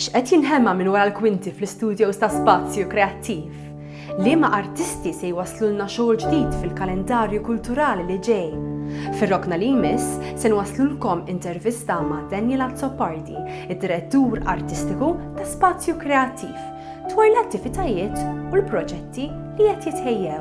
X'qed jinħema minn wara l-kwinti fl-istudios ta' Spazju Kreattiv? Liema artisti se jwasslulna xogħol ġdid fil-kalendarju kulturali li ġej? Fir-rokna li jmiss se nwasslulkom intervista ma' Daniel Azzopardi, id-Direttur Artistiku ta' Spazju Kreattiv, dwar l-attivitajiet u l-proġetti li qed jitħejjew.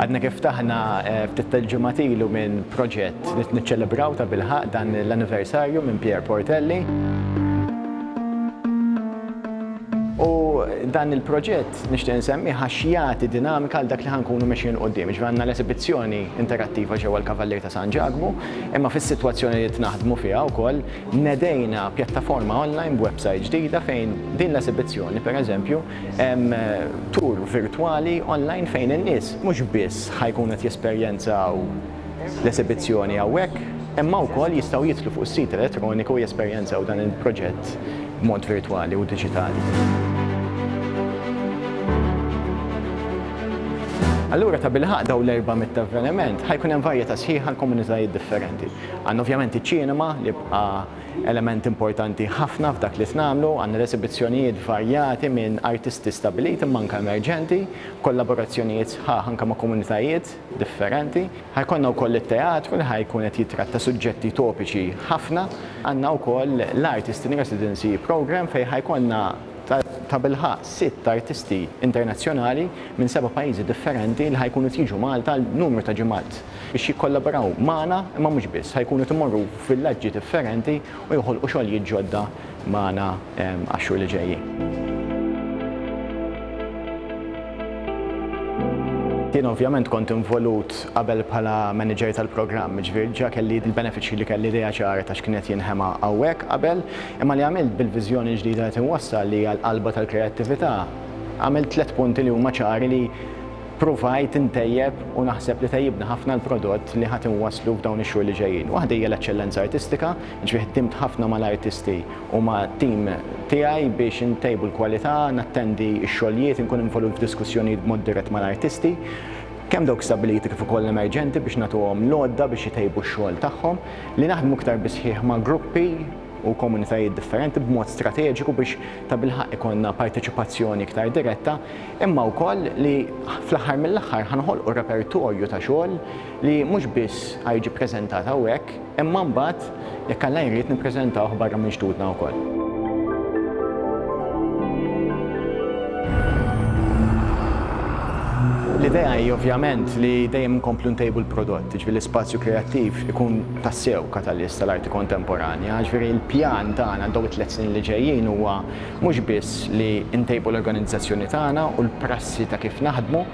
Għadna kif ftaħna ftit tal-ġimgħat ilu minn proġett li niċċelebraw ta' bilħaq dan l-anniversarju minn Pierre Portelli. U dan il-proġett nixtieq insemmih għax jagħti dinamika għal dak li ħa nkunu mexjin 'l quddiem. Jiġifieri għandna l-esibizzjoni interattiva ġewwa l-Kavallier ta' San Ġakbu, imma fis-sitwazzjoni li qed naħdmu fiha wkoll, Nedejna pjattaforma online b'websajt ġdida fejn din l-esibizzjoni, per eżempju, hemm tour virtwali online fejn in-nies mhux biss ħa jkunu qed jesperjenzaw l-esibizzjoni hawnhekk, imma wkoll jistgħu jidħlu fuq is-sit elettroniku u jesperjenzaw dan il-proġett b'mod virtwali u diġitali. Allura tabilħaqq dawn l-erba' mitt avveniment ħa jkun hemm varjetà sħiħa għall-komunitajiet differenti. Għandna ovvjament iċ-ċinema li bqa' element importanti ħafna f'dak li qed nagħmlu. Għandna l-esibizzjonijiet varjati minn artisti stabbiliti imma anke emerġenti, kollaborazzjonijiet sħaħ anke ma' komunitajiet differenti. Ħa jkollna wkoll it-teatru li ħa jkun qed jittratta suġġetti topiċi ħafna. Għandna wkoll l-Artist in Residency Programme fejn ħa jkollna tabilħaqq sitt artisti internazzjonali minn seba' pajjiżi differenti li ħa jkunu qed jiġu Malta għal numru ta' ġimgħat. biex jikkollaboraw magħna imma mhux biss, ħa jkunu qed imorru f'villaġġi differenti u joħolqu xogħlijiet ġodda magħna għax-xhur li ġejjin. Jien ovvjament kont involut qabel bħala manager tal-programm, ġifieri diġà kelli l-benefiċċji li kelli idea ċara ta' x'kien qed jinħema hawnhekk qabel, imma li għamilt bil-viżjoni l-ġdida li qed inwassal li hija l-qalba tal-kreattività, għamilt tliet punti li huma ċari li, Pruvajt intejjeb u naħseb li tejjibna ħafna l-prodott li ħa tinwasslu f'dawn ix-xhur li ġejjin. Waħda hija l-eċċellenza artistika, jiġifieri ħdimt ħafna mal-artisti u mat-tim tiegħi biex intejbu l-kwalità, nattendi x-xogħlijiet, inkun involut f'diskussjonijiet b'mod dirett mal-artisti, kemm dawk stabbiliti kif ukoll emerġenti biex nagħtuhom l-għodda biex itejbu x-xogħol tagħhom, li naħdmu iktar bis-sħiħ ma' gruppi u komunitajiet differenti b'mod strateġiku biex tabilħaqq ikollna parteċipazzjoni iktar diretta. imma wkoll li fl-aħħar mill-aħħar ħa noħolqu repertorju ta' xogħol li mhux biss ħa jiġi ppreżentat hawnhekk, imma mbagħad jekk Alla jrid nippreżentawh barra minn xtutna wkoll. L-idea hi ovvjament li dejjem nkomplu ntejbu l-prodott, ġifieri l-ispazju kreattiv ikun tassew katalist tal-arti kontemporanja, ġifieri l-pjan tagħna għal dawn it-tliet snin li ġejjin huwa mhux biss li ntejbu l-organizzazzjoni tagħna u l-prassi ta' kif naħdmu,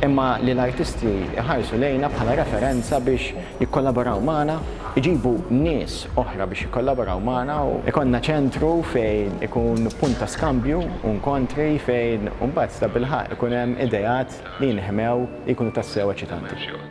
imma li l-artisti jħarsu lejna bħala referenza biex jikkollaboraw magħna, iġibu nies oħra biex jikkollaboraw magħna u jkollna ċentru fejn ikun punt ta' skambju u nkontri fejn imbagħad tabilħaqq ikun hemm ideat li jinħmew li jkunu tassew eċitanti.